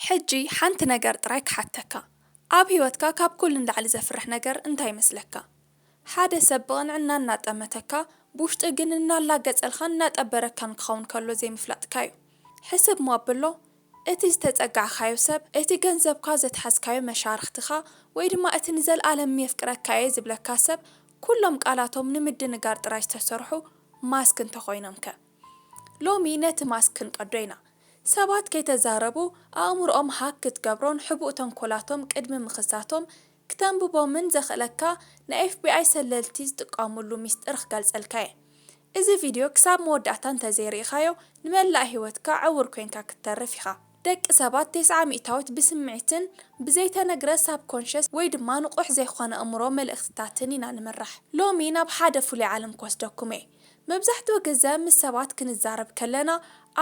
ሕጂ ሓንቲ ነገር ጥራይ ክሓተካ ኣብ ሂወትካ ካብ ኩሉ ንላዕሊ ዘፍርሕ ነገር እንታይ ይመስለካ? ሓደ ሰብ ብቕንዕና እናጠመተካ ብውሽጢ ግን እናላገጸልካን እናጠበረካን ክኸውን ከሎ ዘይምፍላጥካ'ዩ። ሕስብ'ሞ ኣብሎ እቲ ዝተጸጋዕካዮ ሰብ፣ እቲ ገንዘብካ ዘትሓዝካዮ መሻርኽትኻ ወይ ድማ እቲ ንዘልኣለም የፍቅረካ'የ ዝብለካ ሰብ ኩሎም ቃላቶም ንምድንጋር ጥራይ ዝተሰርሑ ማስክ እንተኾይኖምከ? ሎሚ ነቲ ማስክ ክንቀዶ ኢና። ሰባት ከይተዛረቡ ኣእምሮኦም ሃክ ክትገብሮን ሕቡእ ተንኮላቶም ቅድሚ ምኽሳቶም ክተንብቦምን ዘኽእለካ ናይ ኤፍቢኣይ ሰለልቲ ዝጥቀሙሉ ሚስጥር ክገልጸልካ'የ። እዚ ቪድዮ ክሳብ መወዳእታ እንተዘይርኢኻዮ ንመላእ ህይወትካ ዕዉር ኮይንካ ክትተርፍ ኢኻ። ደቂ ሰባት ቴስዓ ሚእታዊት ብስምዒትን ብዘይተነግረ ሳብኮንሸስ ወይ ድማ ንቑሕ ዘይኮነ እምሮ መልእኽትታትን ኢና ንምራሕ። ሎሚ ናብ ሓደ ፍሉይ ዓለም ክወስደኩም'የ። መብዛሕትኡ ግዘ ምስ ሰባት ክንዛረብ ከለና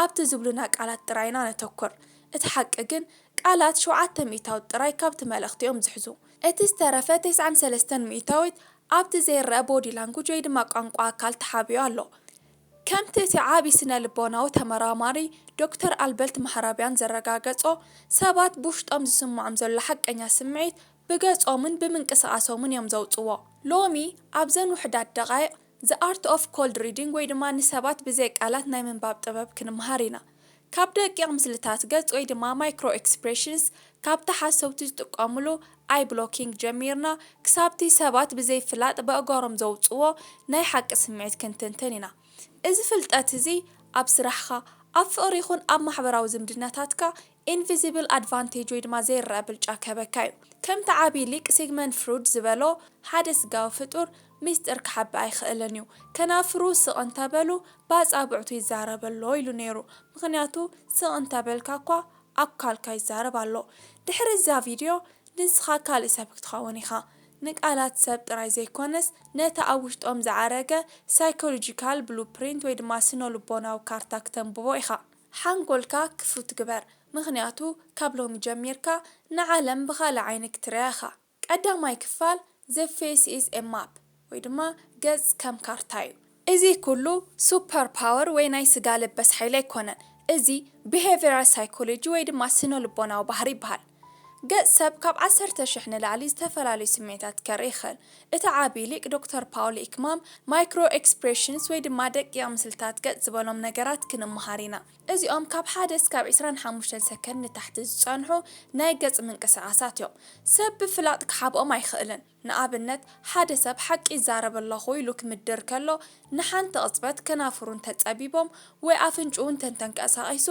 ኣብቲ ዝብሉና ቃላት ጥራይ ኢና ነተኩር። እቲ ሓቂ ግን ቃላት ሸውዓተ ሚእታዊት ጥራይ ካብቲ መልእኽቲ እዮም ዝሕዙ። እቲ ዝተረፈ ተስዓን ሰለስተን ሚእታዊት ኣብቲ ዘይረኣ ቦዲ ላንጉጅ ወይ ድማ ቋንቋ ኣካል ተሓቢኡ ኣሎ። ከምቲ እቲ ዓቢ ስነ-ልቦናዊ ተመራማሪ ዶክተር ኣልበልት ማህራቢያን ዘረጋገጾ፣ ሰባት ብውሽጦም ዝስምዖም ዘሎ ሓቀኛ ስምዒት ብገጾምን ብምንቅስቓሶምን እዮም ዘውጽዎ። ሎሚ ኣብዘን ውሑዳት ደቓይቕ The Art of Cold Reading ወይ ድማ ንሰባት ብዘይ ቃላት ናይ ምንባብ ጥበብ ክንመሃር ኢና። ካብ ደቂቕ ምስልታት ገጽ ወይ ድማ Micro Expressions ካብቲ ሓሰውቲ ዝጥቀሙሉ Eye Blocking ጀሚርና ክሳብቲ ሰባት ብዘይ ፍላጥ በእጓሮም ዘውጽዎ ናይ ሓቂ ስምዒት ክንትንትን ኢና። እዚ ፍልጠት እዚ ኣብ ስራሕኻ፣ ኣብ ፍቕሪ ይኹን ኣብ ማሕበራዊ ዝምድናታትካ ኢንቪዚብል ኣድቫንቴጅ ወይ ድማ ዘይረኣ ብልጫ ክህበካ እዩ። ከምቲ ዓቢ ሊቅ ሲግመንድ ፍሩድ ዝበሎ ሓደ ስጋዊ ፍጡር ሚስጥር ክሓብእ ኣይክእልን እዩ። ከናፍሩ ስቕ እንተበሉ ብኣጻብዕቱ ይዛረብ ኣሎ ኢሉ ነይሩ። ምኽንያቱ ስቕ እንተበልካ እኳ ኣካልካ ይዛረብ ኣሎ። ድሕሪ እዛ ቪድዮ ንስኻ ካልእ ሰብ ክትኸውን ኢኻ። ንቃላት ሰብ ጥራይ ዘይኮነስ ነቲ ኣብ ውሽጦም ዝዓረገ ሳይኮሎጂካል ብሉ ፕሪንት ወይ ድማ ስነ-ልቦናዊ ካርታ ክተንብቦ ኢኻ። ሓንጎልካ ክፉት ግበር ምኽንያቱ ካብ ሎሚ ጀሚርካ ንዓለም ብኻልእ ዓይኒ ክትርእያ ኢኻ። ቀዳማይ ክፋል The Face is a Map ወይ ድማ ገጽ ከም ካርታ እዩ። እዚ ኩሉ ሱፐር ፓወር ወይ ናይ ስጋ ለበስ ሓይሊ ኣይኮነን። እዚ Behavioral Psychology ወይ ድማ ስነ-ልቦናዊ ባህሪ ይበሃል። ገጽ ሰብ ካብ ዓሰርተ ሽሕ ንላዕሊ ዝተፈላለዩ ስምዒታት ከርኢ ይኽእል። እቲ ዓቢ ሊቅ ዶክተር ፓውል ኢክማም፣ ማይክሮ ኤክስፕሬሽንስ ወይ ድማ ደቂቕ ምስልታት ገጽ ዝበሎም ነገራት ክንመሃር ኢና። እዚኦም ካብ ሓደ እስካብ ዕስራን ሓሙሽተን ሰከንድ ንታሕቲ ዝጸንሑ ናይ ገጽ ምንቅስቓሳት እዮም። ሰብ ብፍላጥ ክሓብኦም ኣይኽእልን። ንኣብነት፣ ሓደ ሰብ ሓቂ ይዛረብ ኣለኹ ኢሉ ክምድር ከሎ፣ ንሓንቲ ቕጽበት ከናፍሩ እንተ ጸቢቦም ወይ ኣፍንጭኡ እንተ እንተንቀሳቒሱ፣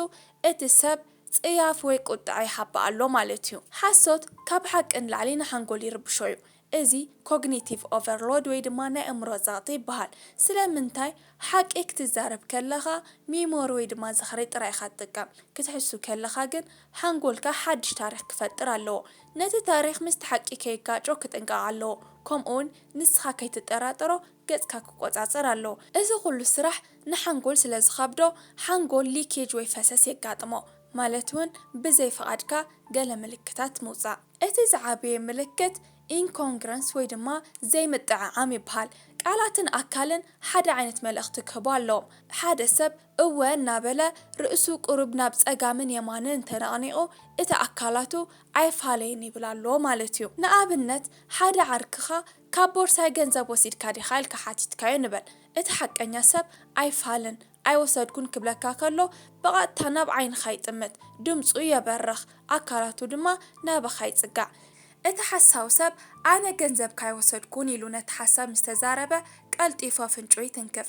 እቲ ሰብ ጽያፍ ወይ ቍጥዐ ይሓብእ ኣሎ ማለት እዩ። ሓሶት ካብ ሓቂ ንላዕሊ ንሓንጎል ይርብሾ እዩ። እዚ ኮግኒቲቭ ኦቨርሎድ ወይ ድማ ናይ ኣእምሮ ጸቕጢ ይበሃል። ስለምንታይ? ሓቂ ክትዛረብ ከለኻ ሚሞሪ ወይ ድማ ዝኽሪ ጥራይ ኢኻ ትጥቀም፣ ክትሕሱ ከለኻ ግን ሓንጎልካ ሓድሽ ታሪኽ ክፈጥር ኣለዎ። ነቲ ታሪኽ ምስቲ ሓቂ ከየጋጮ ክጥንቀቕ ኣለዎ። ከምኡውን ንስኻ ከይትጠራጠሮ ገጽካ ክቆጻጸር ኣለዎ። እዚ ኩሉ ስራሕ ንሓንጎል ስለ ዝኸብዶ ሓንጎል ሊኬጅ ወይ ፈሰስ የጋጥሞ። ማለት እውን ብዘይ ፍቓድካ ገለ ምልክታት ምውጻእ። እቲ ዝዓበየ ምልክት ኢንኮንግረንስ ወይ ድማ ዘይምጥዕዓም ይበሃል። ቃላትን ኣካልን ሓደ ዓይነት መልእኽቲ ክህቡ ኣለዎም። ሓደ ሰብ እወ እናበለ ርእሱ ቁሩብ ናብ ጸጋምን የማንን ተነቕኒቑ እቲ ኣካላቱ ኣይፋለይን ይብል ኣሎ ማለት እዩ። ንኣብነት ሓደ ዓርክኻ ካብ ቦርሳይ ገንዘብ ወሲድካ ዲኻ ኢልካ ሓቲትካዮ ንበል። እቲ ሓቀኛ ሰብ ኣይፋልን፣ ኣይወሰድኩን ክብለካ ከሎ ብቐጥታ ናብ ዓይንኻ ይጥምት፣ ድምጹ የበርኽ፣ ኣካላቱ ድማ ናባኻ ይጽጋዕ። እቲ ሓሳዊ ሰብ ኣነ ገንዘብካ ኣይወሰድኩን ኢሉ ነቲ ሓሳብ ምስ ተዛረበ ቀልጢፉ ኣፍንጭኡ ይትንክፍ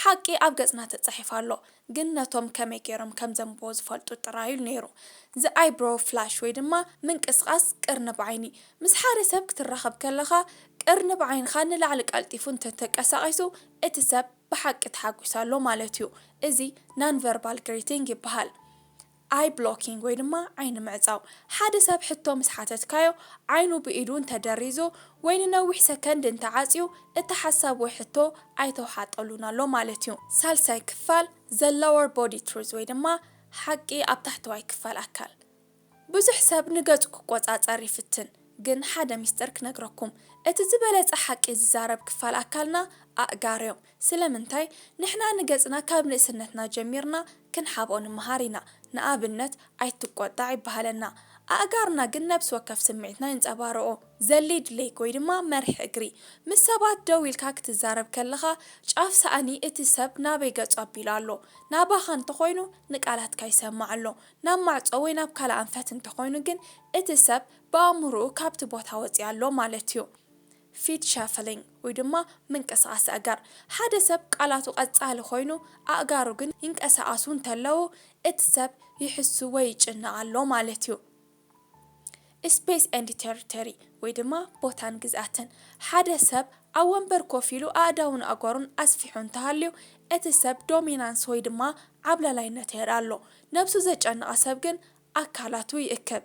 ሓቂ ኣብ ገጽና ተጻሒፉ ኣሎ፣ ግን ነቶም ከመይ ገይሮም ከም ዘንብቦ ዝፈልጡ ጥራይ ኢሉ ነይሩ። The Eyebrow Flash ወይ ድማ ምንቅስቓስ ቅርንብ ዓይኒ። ምስ ሓደ ሰብ ክትራኸብ ከለኻ ቅርንብ ዓይንኻ ንላዕሊ ቀልጢፉ እንተ ተቀሳቒሱ እቲ ሰብ ብሓቂ ተሓጒሱ ኣሎ ማለት እዩ። እዚ Non-Verbal Greeting ይበሃል። ኣይ ብሎኪንግ ወይ ድማ ዓይኒ ምዕጻው፣ ሓደ ሰብ ሕቶ ምስ ሓተትካዮ ዓይኑ ብኢዱ እንተ ደሪዙ ወይ ንነዊሕ ሰከንድ እንተ ዓጽዩ እቲ ሓሳብ ወይ ሕቶ ኣይተውሓጠሉን ኣሎ ማለት እዩ። ሳልሳይ ክፋል The Lower Body Truth ወይ ድማ ሓቂ ኣብ ታሕተዋይ ክፋል ኣካል። ብዙሕ ሰብ ንገጹ ክቆጻጸር ይፍትን ግን ሓደ ሚስጥር ክነግረኩም እቲ ዝበለጸ ሓቂ ዝዛረብ ክፋል ኣካልና ኣእጋርዮ። ስለምንታይ ንሕና ንገጽና ካብ ንእስነትና ጀሚርና ክንሓብኦ ንመሃር ኢና። ንኣብነት ኣይትቆጣዕ ይበሃለና። ኣእጋርና ግን ነብሲ ወከፍ ስምዒትና የንጸባርቖ። ዘሊድ ሌግ ወይ ድማ መሪሕ እግሪ። ምስ ሰባት ደው ኢልካ ክትዛረብ ከለኻ ጫፍ ሳእኒ እቲ ሰብ ናበይ ገጹ ኣቢሉ ኣሎ? ናባኻ እንተኾይኑ ንቃላትካ ይሰማዕ ኣሎ። ናብ ማዕጾ ወይ ናብ ካልእ ኣንፈት እንተኾይኑ ግን እቲ ሰብ ብኣእምሮኡ ካብቲ ቦታ ወጺኡ ኣሎ ማለት'ዩ። ፊት ሸፍሊንግ ወይ ድማ ምንቅስቓስ ኣእጋር፣ ሓደ ሰብ ቃላቱ ቀጻሊ ኮይኑ ኣእጋሩ ግን ይንቀሳቐሱ እንተለዉ እቲ ሰብ ይሕሱ ወይ ይጭነቕ ኣሎ ማለት እዩ። ስፔስ ኤንድ ቴሪቶሪ ወይ ድማ ቦታን ግዝኣትን፣ ሓደ ሰብ ኣብ ወንበር ኮፍ ኢሉ ኣእዳዉን ኣእጋሩን ኣስፊሑ እንተሃልዩ እቲ ሰብ ዶሚናንስ ወይ ድማ ዓብላላይነት የርኢ ኣሎ። ነብሱ ዘጨነቐ ሰብ ግን ኣካላቱ ይእክብ።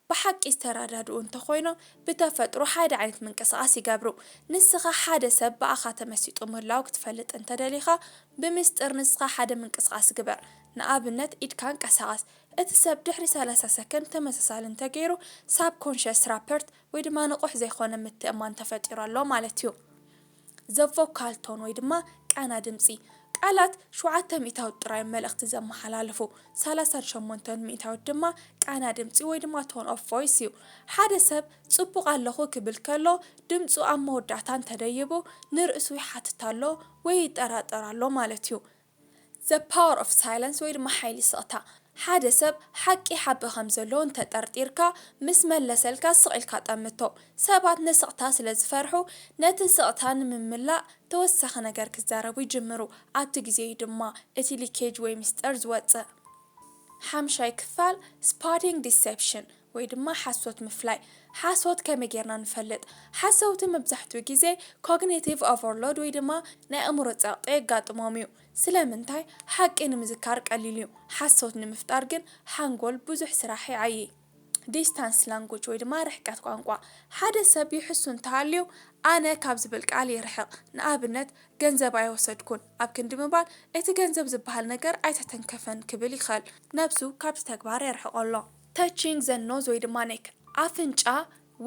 ብሓቂ ዝተራዳድኡ እንተኾይኖም ብተፈጥሮ ሓደ ዓይነት ምንቅስቓስ ይገብሩ። ንስኻ ሓደ ሰብ ብኣኻ ተመሲጡ ምህላዉ ክትፈልጥ እንተደሊኻ ብምስጢር ንስኻ ሓደ ምንቅስቓስ ግበር፣ ንኣብነት ኢድካ ኣንቀሳቕስ። እቲ ሰብ ድሕሪ ሰላሳ ሰከንድ ተመሳሳሊ እንተገይሩ ሳብኮንሸስ ራፐርት ወይ ድማ ንቑሕ ዘይኮነ ምትእምማን ተፈጢሩ ኣሎ ማለት እዩ። ዘ ቮካል ቶን ወይ ድማ ቃና ድምጺ፣ ቃላት ሸውዓተ ሚእታዊት ጥራይ እዮም መልእኽቲ ዘመሓላልፉ፣ ሰላሳን ሸሞንተን ሚእታዊት ድማ ቃና ድምጺ ወይ ድማ ቶን ኦፍ ቮይስ እዩ። ሓደ ሰብ ጽቡቕ ኣለኹ ክብል ከሎ ድምጹ ኣብ መወዳእታ እንተደይቡ ንርእሱ ይሓትት ኣሎ ወይ ይጠራጠር ኣሎ ማለት እዩ። The Power of Silence ወይ ድማ ሓይሊ ስቕታ። ሓደ ሰብ ሓቂ ይሓብእ ከም ዘሎ እንተ ጠርጢርካ፣ ምስ መለሰልካ ስቕ ኢልካ ጠምቶ። ሰባት ንስቕታ ስለ ዝፈርሑ፣ ነቲ ስቕታ ንምምላእ ተወሳኺ ነገር ክዛረቡ ይጅምሩ። ኣብቲ ግዜ እዩ ድማ እቲ ሊኬጅ ወይ ምስጢር ዝወጽእ። ሓምሻይ ክፋል፣ Spotting Deception፣ ወይ ድማ ሓሶት ምፍላይ። ሓሶት ከመይ ጌርና ንፈልጥ? ሓሰውቲ መብዛሕትኡ ግዜ ኮግኒቲቭ ኦቨርሎድ ወይ ድማ ናይ ኣእምሮ ጸቕጢ የጋጥሞም እዩ። ስለምንታይ? ሓቂ ንምዝካር ቀሊል እዩ፣ ሓሶት ንምፍጣር ግን ሓንጎል ብዙሕ ስራሕ ይዓዪ። ዲስታንስ ላንጉጅ ወይ ድማ ርሕቀት ቋንቋ። ሓደ ሰብ ይሕሱ እንተሃልዩ ኣነ ካብ ዝብል ቃል ይርሕቕ። ንኣብነት፣ ገንዘብ ኣይወሰድኩን ኣብ ክንዲ ምባል እቲ ገንዘብ ዝበሃል ነገር ኣይተተንከፈን ክብል ይኽእል፣ ነብሱ ካብቲ ተግባር የርሕቖ ኣሎ። Touching the nose ወይ ድማ neck፣ ኣፍንጫ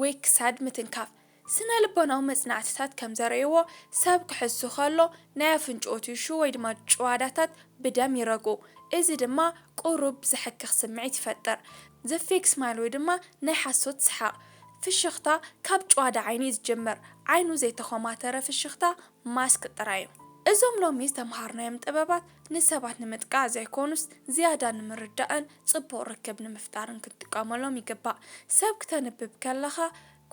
ወይ ክሳድ ምትንካፍ፣ ስነ-ልቦናዊ መጽናዕትታት ከም ዘርእይዎ፣ ሰብ ክሕሱ ከሎ ናይ ኣፍንጭኡ ቲሹ ወይ ድማ ጭዋዳታት ብደም ይረግኡ፣ እዚ ድማ ቁሩብ ዘሕክኽ ስምዒት ይፈጥር። The fake smile ወይ ድማ ናይ ሓሶት ሰሓቕ፣ ፍሽኽታ ካብ ጭዋዳ ዓይኒ እዩ ዝጅምር፣ ዓይኑ ዘይተኾማተረ ፍሽኽታ፣ ማስክ፣ ጥራይ እዩ። እዞም ሎሚ ዝተመሃርናዮም ጥበባት ንሰባት ንምጥቃዕ ዘይኮኑስ ዝያዳ ንምርዳእን ጽቡቕ ርክብ ንምፍጣርን ክንጥቀመሎም ይግባእ። ሰብ ክተንብብ ከለኻ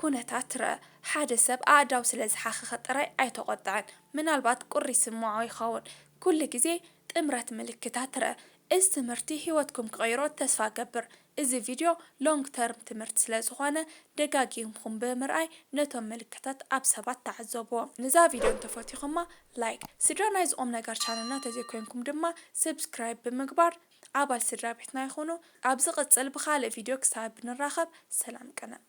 ኩነታት ርእ። ሓደ ሰብ ኣእዳው ስለ ዝሓኸኸ ጥራይ ኣይተቖጥዕን፣ ምናልባት ቁሪ ይስምዖ ይኸውን። ኩሉ ግዜ ጥምረት ምልክታት ርእ። እዚ ትምህርቲ ህይወትኩም ክቕይሮ ተስፋ እገብር። እዚ ቪድዮ ሎንግ ተርም ትምህርቲ ስለ ዝኾነ ደጋጊምኩም ብምርኣይ ነቶም ምልክታት ኣብ ሰባት ተዓዘቡዎም። ንዛ ቪድዮ እንተፈቲኹማ ላይክ፣ ስድራ ናይዚ ቁምነገር ቻነልና ተዘይኮይንኩም ድማ ስብስክራይብ ብምግባር ኣባል ስድራቤትና ይኹኑ። ኣብ ዝቅጽል ብኻልእ ቪድዮ ክሳብ ንራኸብ ሰላም ቅነ።